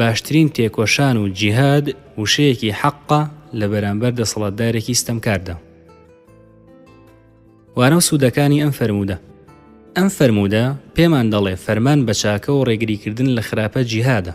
باشترین تێکۆشان و جیهاد وشەیەکی حەقە لە بەرامبەر دەسەڵاتدارێکی ستەمکاردا. وانە و سوودەکانی ئەم فەرموودە ئەم فەرموودە پێمان دەڵێ فەرمان بە چاکە و ڕێگریکردن لە خراپە جیهادە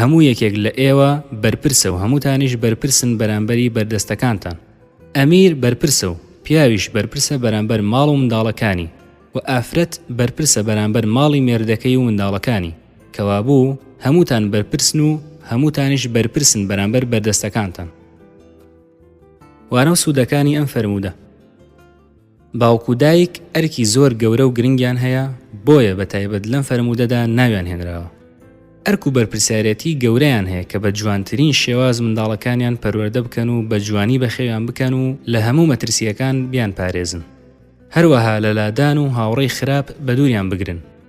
هەموو یەکێک لە ئێوە بەرپرسە و هەمووتانیش بەرپرسن بەرامبەری بەردەستەکانتان. ئەمیر بەرپرسە و پیاویش بەرپرسە بەرامبەر ماڵ و منداڵەکانی و ئافرەت بەرپرسە بەرامبەر ماڵی مێردەکەی و منداڵەکانی، کەوابوو هەمووتان بەرپرسن و هەمووتانیش بەرپرسن بەرامبەر بەردەستەکانتان. وانە و سوودەکانی ئەم فەرموودە. باوک و دایک ئەرکی زۆر گەورە و گرنگیان هەیە، بۆیە بە تایبەت لەم فەرموودەدا ناویان هێنراوە. ئەرک و بەرپرسیارێتی گەورەیان هەیە کە بە جوانترین شێواز منداڵەکانیان پەروەردە بکەن و بە جوانی بەخێویان بکەن و لە هەموو مەترسییەکان بیانپارێزن. هەروەها لە لادان و هاوڕێی خراپ بەدووریان بگرن.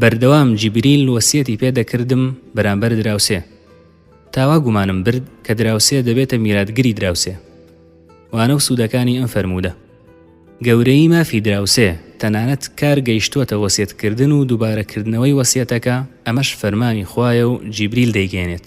بەردەوام جیبریل وەسیەتی پێ دەکردم بەرامبەر دراوسێ تا وا گومانم برد کە دراوسێ دەبێتە میراتگری دراوسێ وانە و سوودەکانی ئەم فەرموودە گەورەیی مافی دراوسێ تەنانەت کار گەیشتووەتە وەسیەتکردن و دووبارەکردنەوەی وەسیەتەکە ئەمەش فەرمانی خوایە و جیبریل دەیگەێنێت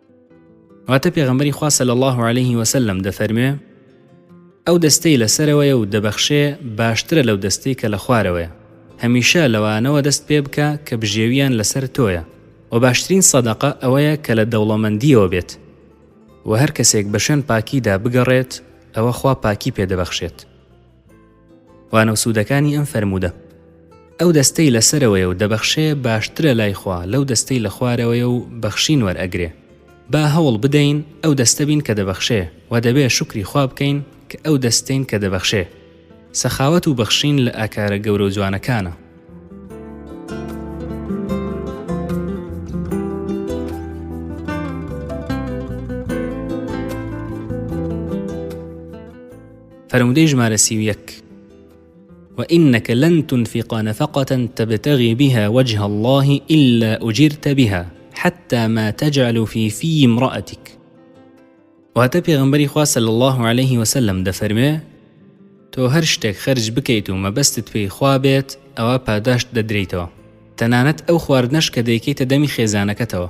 واتە پێغەمبەری خوا صلی الله علیه وسلم دەفەرموێ ئەو دەستەی لەسەرەوەیە و دەبەخشێ باشترە لەو دەستەی کە لە خوارەوەیە هەمیشە لەوانەوە دەست پێ بکە کە بژێویان لەسەر تۆیە و باشترین سەدەقە ئەوەیە کە لە دەوڵەمەندیەوە بێت و هەر کەسێک بە شوێن پاکیدا بگەڕێت ئەوە خوا پاکی پێدەبەخشێت وانە و سوودەکانی ئەم فەرموودە ئەو دەستەی لەسەرەوەی و دەبەخشێ باشترە لای خوا لەو دەستەی لە خوارەوەی و بەخشین وەرئەگرێ با هەوڵ بدەین ئەو دەستە بین کە دەبەخشێ و دەبێ شکری خوا بکەین کە ئەو دەستین کە دەبەخشێ سەخاوەت و بەخشین لە ئاکارە گەورە و جوانەکانە فەرموودەی ژمارە سی و یەک وإنك لن تنفق نفقة تبتغي بها وجه الله إلا أجرت بها حتى ما تجعل في في امرأتك واتە پێغمبەری خوا سەل الله عليه وسلم دەفەرمێ تۆ هەر شتێک خەرج بکەیت و مەبەستت پێی خوا بێت ئەوە پاداشت دەدرێیتەوە تەنانەت ئەو خواردنەش کە دەیکەیتە دەمی خێزانەکەتەوە